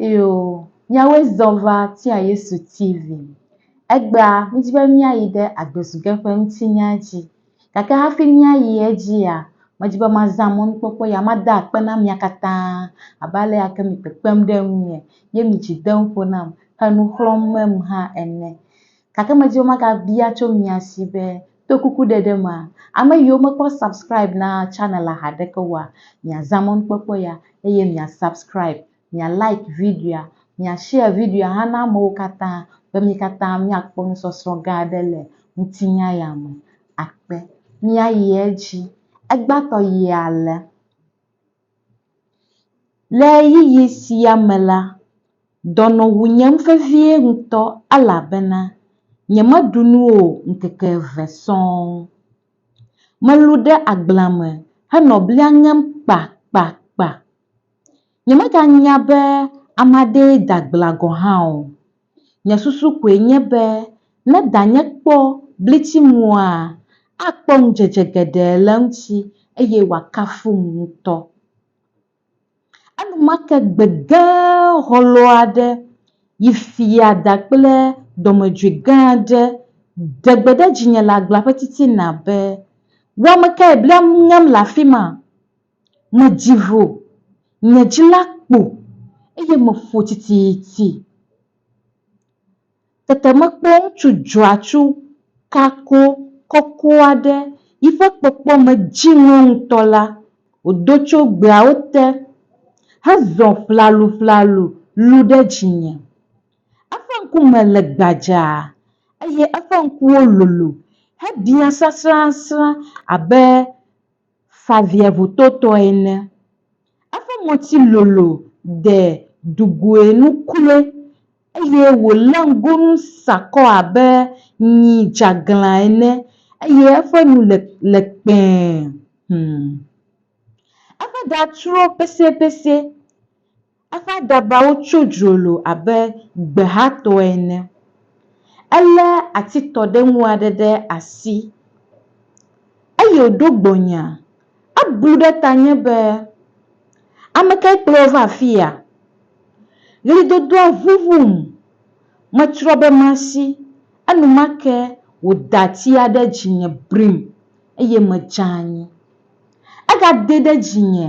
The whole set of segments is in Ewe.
Iyo, míawoe zɔ va tia Yesu TV. Egbea, míedi be míayi ɖe agbezuge ƒe ŋutinya dzi. Gake hafi míayi edzia, medi be mazã mɔnukpɔkpɔ ya mada akpe na mia katã abe alea ke mi kpekpem ɖe ŋunye ye mi dzi dem ƒo nam he nu xlɔ̃m mem hã ene. Gake medi be magabia tso mia si be to kuku ɖeɖe mea, ame yiwo mekpɔ subscribe na channel haɖeke oa, miazã mɔnukpɔkpɔ ya eye mia subscribe, mia like videoa, mia share videoa hã na amewo katã be mi katã miakpɔ nusɔsrɔ̃ gã aɖe le ŋutinya ya me. Akpe. Míayi edzi. Egbãtɔ yia le. Le ɣeyiɣi sia me la, dɔnɔ wu nyem vevie ŋutɔ elabena nyemeɖu nu o ŋkeke eve sɔŋ. Melũ ɖe agblea me henɔ blia ŋem kpakpakpa. Nyemeganya be ame aɖee da agblea gɔ̃ hã o. Nye susu koe nye be ne danye kpɔ blitsiŋua, akpɔ ŋudzedze geɖe le eŋuti eye wòakafum ŋutɔ. Enumake gbe gã hɔlɔ̃ aɖe yi fia da kple dɔmedzoe gã aɖe ɖe gbe ɖe dzinye le agblea ƒe titina be, Wò ame kae blam ŋem le afi ma? Medzi vo, nye dzi la kpo, eye meƒo tititi. Tete mekpɔ ŋutsu dzɔatsu kako kɔkɔ aɖe, yiƒe kpɔkpɔme dzi ŋɔ ŋutɔ la, wòdo tso gbeawo te hezɔ ƒlaluƒlalu lũ ɖe dzinye. Eƒe ŋkume le gbadzaa eye eƒe ŋkuwo lolo hebiã sasrasrã abe. Faviaŋutotɔe ene. Eƒe ŋɔti lolo de dugoe nu kloe, eye wòlé ŋgonu sakɔ abe nyi dzeaglã ene, eye eƒe nu le le kpẽe. Hum. Eƒe ɖa trɔ peseepesee. Eƒe adabawo tso dzrolo abe gbehatɔ ene. Elé atitɔɖeŋu aɖe ɖe asi, eye wòɖo gbɔnye. Eblu ɖe tanye be, Ame kae kplɔ wò va afia? Ɣlidodoa ʋuʋum. Metsrɔ̃ be masi. Enumake wòda atia ɖe dzinye brim, eye medze anyi. Egadee ɖe dzinye.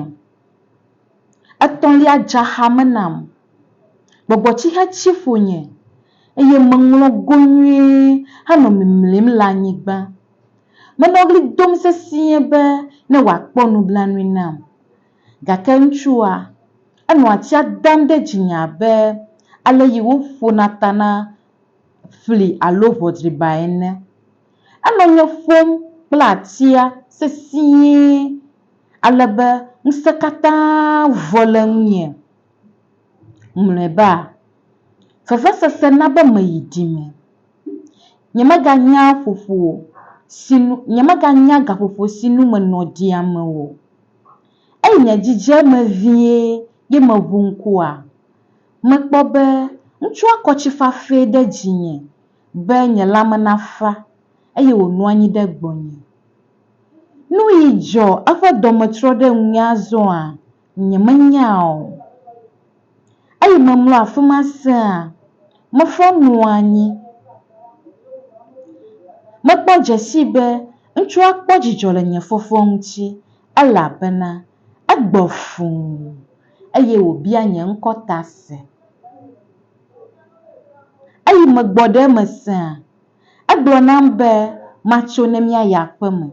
Etɔ̃lia dza xa me nam. Gbɔgbɔtsixe tsi ƒonye eye meŋlɔ go nyuie henɔ mimlim le anyigba. Menɔ ɣli dom sesĩe be ne wòakpɔ nublanui nam. Gake ŋutsua, enɔ atsia dam ɖe dzinye abe aleyi woƒona ta na fli alo ʋɔdriba ene. Enɔ nye ƒom kple atsia sesĩe. ale be ŋusẽ katã vɔ le ŋunye. Mlɔeba, vevesese na be meyi ɖi me. Nyemeganya ƒoƒo si nu nyemeganya gaƒoƒo si nu menɔ ɖi ame o. Eyi nye dzidzi eme vie ye meŋu ŋkua, mekpɔ be ŋutsua kɔ tsi fafɛ ɖe dzinye be nye lãme nafa eye wònɔ anyi ɖe gbɔnye. Nu yi dzɔ eƒe dɔme trɔ ɖe ŋunye azɔa? Nyemenya o. Eyi memlɔ afi ma sea, meƒe nu anyi. Mekpɔ dzesii be ŋutsua kpɔ dzidzɔ le nye fɔfɔ ŋuti elabena egbɔ fũu eye wòbia nye ŋkɔ ta se. Eyi megbɔ ɖe eme sea, Egblɔ nam be matso ne míayi aƒe me.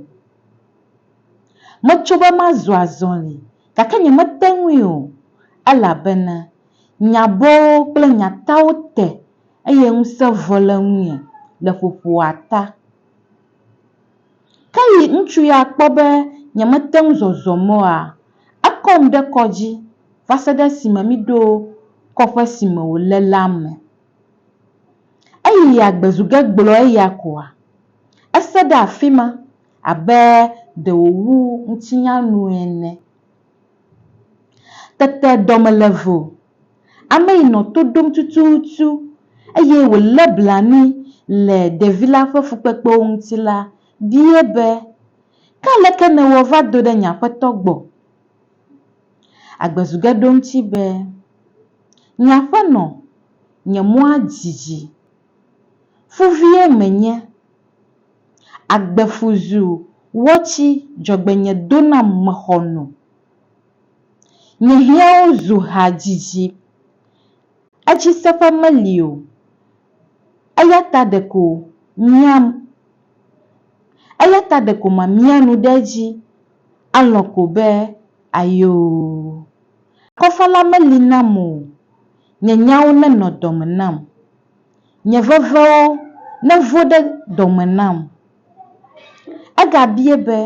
Metso be mazu azɔli, gake nyemete ŋui o, elabena nyabɔwo kple nyatawo te eye ŋusẽ vɔ le ŋunye le ƒoƒoa ta. Ke yi ŋutsu ya kpɔ be nyemete ŋu zɔzɔ mɔ oa, ekɔm ɖe kɔ dzi va se ɖe esime míɖo kɔƒe si me wòle la me. Eyi ya gbe zu ge gblɔ eya koa? Ese ɖe afi ma abe ɖe wòwu ŋutinya nu ene. Tete dɔ me le vo. Ame yi nɔ to ɖom tututu eye wòlé blanui le ɖevi la ƒe fukpekpewo ŋuti la biae be, Ke aleke nèwɔ va do ɖe nye aƒetɔ gbɔ? Agbezuge ɖo eŋuti be, Nye aƒenɔ, nye mɔa didi. Ƒu vie menye. Agbe ƒu zu wɔtsi dzɔgbenye do nam mexɔ nu. Nye hiãwo zu ha didi. Edzi seƒe meli o. Eya ta ɖeko miam. Eya ta ɖeko mamia nu ɖe edzi alɔ̃ ko be, Ayoo! Akɔfa la meli nam o. Nye nyawo nenɔ dɔme nam. Nye vevewo nevo ɖe dɔme nam. Egabie be,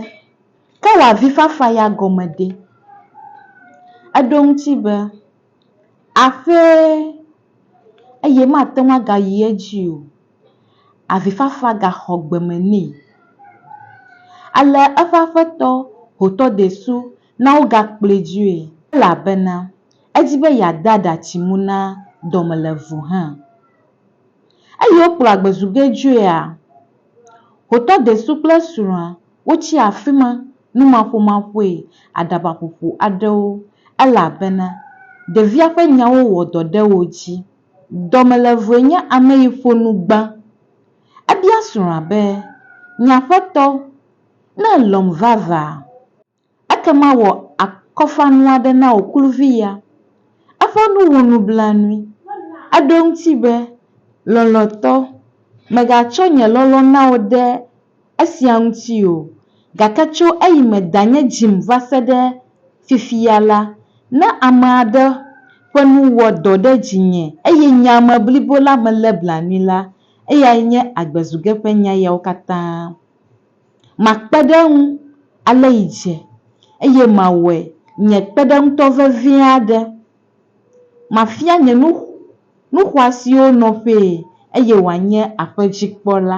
Ke wò avifafa ya gɔme ɖe? Eɖo eŋuti be, Aƒee, eye mate ŋu agayi edzi o. Avifafa gaxɔ gbeme nɛ. Ale eƒe aƒetɔ ho tɔdesu na wogakplɔe dzoe, elabena edi be yeade aɖatsi mu na dɔmelevu hã. Eye wokplɔ agbezu ge dzoea, hotɔ desu kple srɔ̃a wotsi afi ma numaƒomaƒoe aɖabaƒoƒo aɖewo, elabena ɖevia ƒe nyawo wɔ dɔ ɖe wo dzi. Dɔmelevue nye ame yi ƒo nu gbã. Ebia srɔ̃a be, Nye aƒetɔ, ne èlɔ̃m vavã, Ekema wɔ akɔfanu aɖe na wò kluvi ya. Eƒe nu wɔ nublanui. Eɖo eŋuti be, Lɔlɔ̃tɔ, mègatsɔ nye lɔlɔ̃ na wò ɖe esia ŋuti o, gake tso eyime danye dzim va se ɖe fifia la, ne ame aɖe ƒe nu wɔ dɔ ɖe dzinye eye nye ame blibo la melé blanui la, eyae nye agbezuge ƒe nya yawo katã. Makpe ɖe eŋu ale yi dze, eye mawɔe nye kpeɖeŋutɔ vevi aɖe. Mafia nye nu xɔasiwo nɔƒee, eye wòanye aƒedzikpɔla.